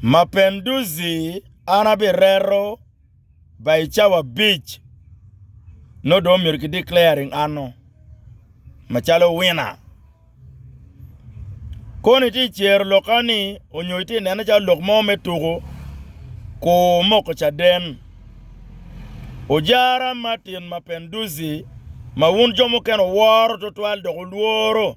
Mapenduzi an abireto by cawa abic nongo dong myero ki declaring an o macalo winner. Koni tye cero lok kani onyo itye nene calo lok mo me tuku kur moko caden. Ojara Martin Mapenduzi ma wun jo mukene wuworo tutwal dok wulworo.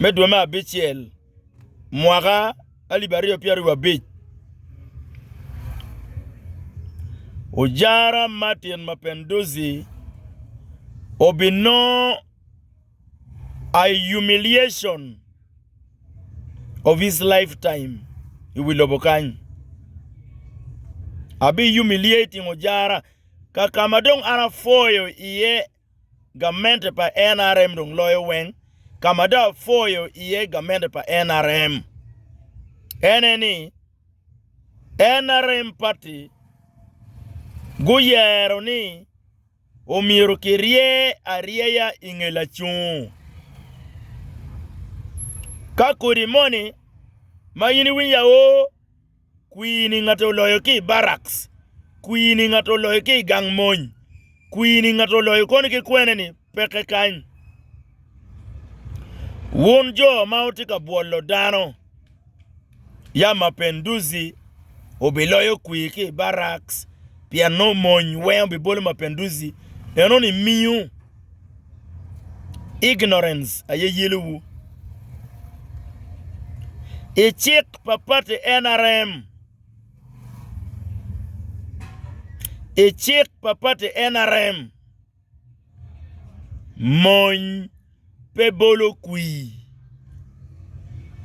me dwe me abicel mwaka alip aryo pyero aryo abic ojara Martin Mapinduzi obinongo I humiliation of his life time I wi lobo kany abi humiliating ojara kakama dong an apoyo iye Gamente pa NRM dong loyo weng. Ka ma dong apwoyo iye gamente pa NRM ene ni NRM party guyero ni omyero kirye aryeya i nge lacung. Ka kodi moni ma in iwinyo aoo Kwir-ni ngate oloyo ki i baraks, kwir-ni ngate oloyo ki i gang mony, kwir-ni ngate oloyo koni ki kwene-ni peke kany. Wun jo ma wutye ka bwolo dano, ya mapenduzi obiloyo kwir ki i baraks, pien nongo mony weng obibolo mapenduzi, eno nimiu. Ignorance aye yelo wu. I cik pa party NRM, i cik pa party NRM, mony pe bolo kwii.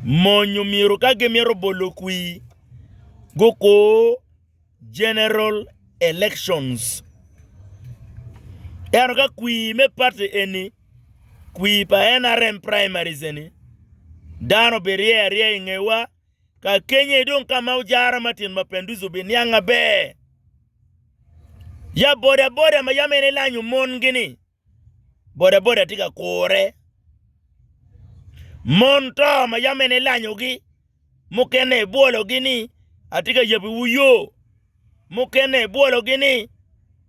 Mony omyero ka gimito bolo kwii gukur. general elections. Ento ka kwir me party eni, kwir pa NRM primaries eni, dano birye aryeya i ngewa, ka kenye dong ka ma ojara Martin Mapinduzi obiniang maber. Ya bodaboda ma yam en elanyo mon-gi ni, Bodaboda tye ka kure. Mon to ma yam en elanyogi, mukene ebwologi ni atye ka yabiwu yo, mukene ebwologi ni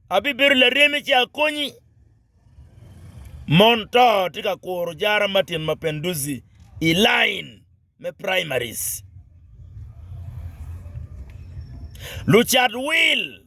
abibedo laremi ci akonyi. Mon to tye ka kuro Jara Martin Mapinduzi i lain me primaries. Lucat wil.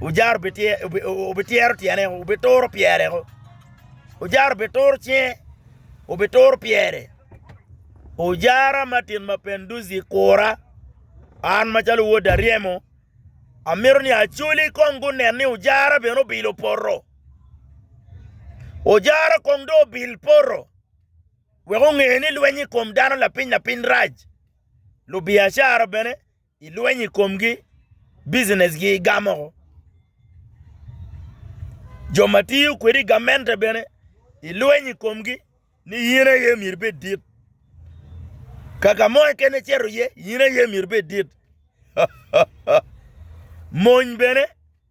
Ojara obityero tyene, obituro pyere. Ojara obituro cinge, obituro pyere. Ojara Martin Mapenduzi kura, an macalo wod Aryemo, amito ni Acholi kong gunen ni Ojara bene obilo poto. Ojara kong dong obil poto wek onge ni lweny i kom dano lapiny lapiny rac. Lubiacara bene I lweny i komgi, bicinessgi igamo woko. Jo ma tiyo kwedi i gamente bene ilweny i komgi ni in aye myero ibed dit. Ka ka mo keken icito iye in aye myero ibed dit. Mony bene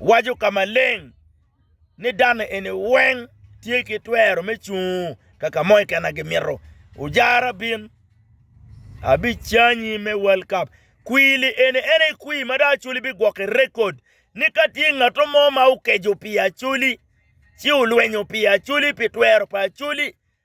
waco ka maleng ni dano eni weng tye ki twero me cung ka ka mo keken ma gimito. Ojara bin abicanyi me World Cup. Kwili eni en aye kwir ma dong Acholi bigwoko i rekod ni ka tye ngat mo ma okeco pi Acholi ci olwenyo pi Acholi pi twero pa Acholi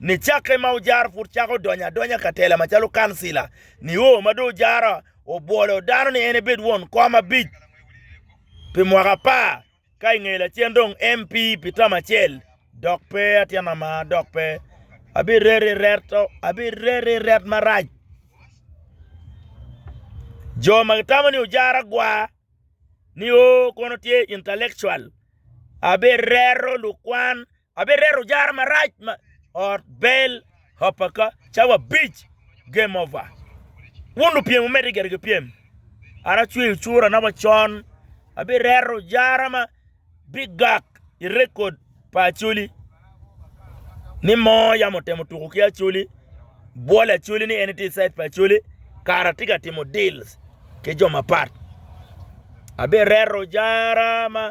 Nicakke ma ojaro pud cako donyo adonya ka tela macalo kancila, nio ma dong ojaro obwolo dano ni en ebed won kom abic pi mwaka apar, ka i nge lacen dong MP pi tam acel. Dok pe atyen ama, dok pe abirer i ret marac. Jo ma gitamo ni ojaro agwa, nio kono tye intellectual, abirero lukwan. Abireto jara marac ma ot bel hoppa ka cawa abic game over wun lupyem wumedde gire ki pyem an acweyo cura na wa con abireto jara ma bigak i record pa Acholi ni moo yam otemo tuko ki Acholi bwolo Acholi ni en itye i side pa Acholi kara atye ka timo deals ki jo mapat abireto jara ma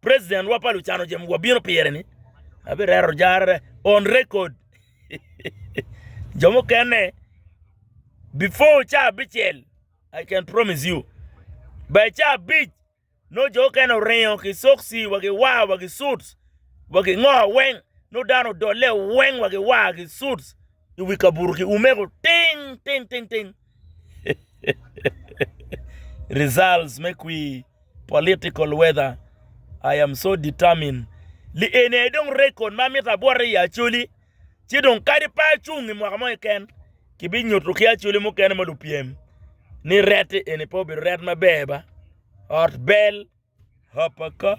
President wa pa lucano jemo wa bino pire ni abi rero jarre on record jo mukene before ca abicel I can promise you by ca abic nongo jo mukene oringo ki soksi wa ki war wa ki suits wa ki ngo weng nongo dano odole weng wa ki war ki suits I wi kabuto ki umeko ting ting ting ting Results me kwir, Political weather, I am so determined Li eni aye dong record ma amito abwote iye Acholi, ci dong kadi pe acung i mwaka mo keken, kibinyuto ki Acholi mukene ma lupyem ni ret eni pe obedo ret maber ba? Ot bel, Hoppa Ka.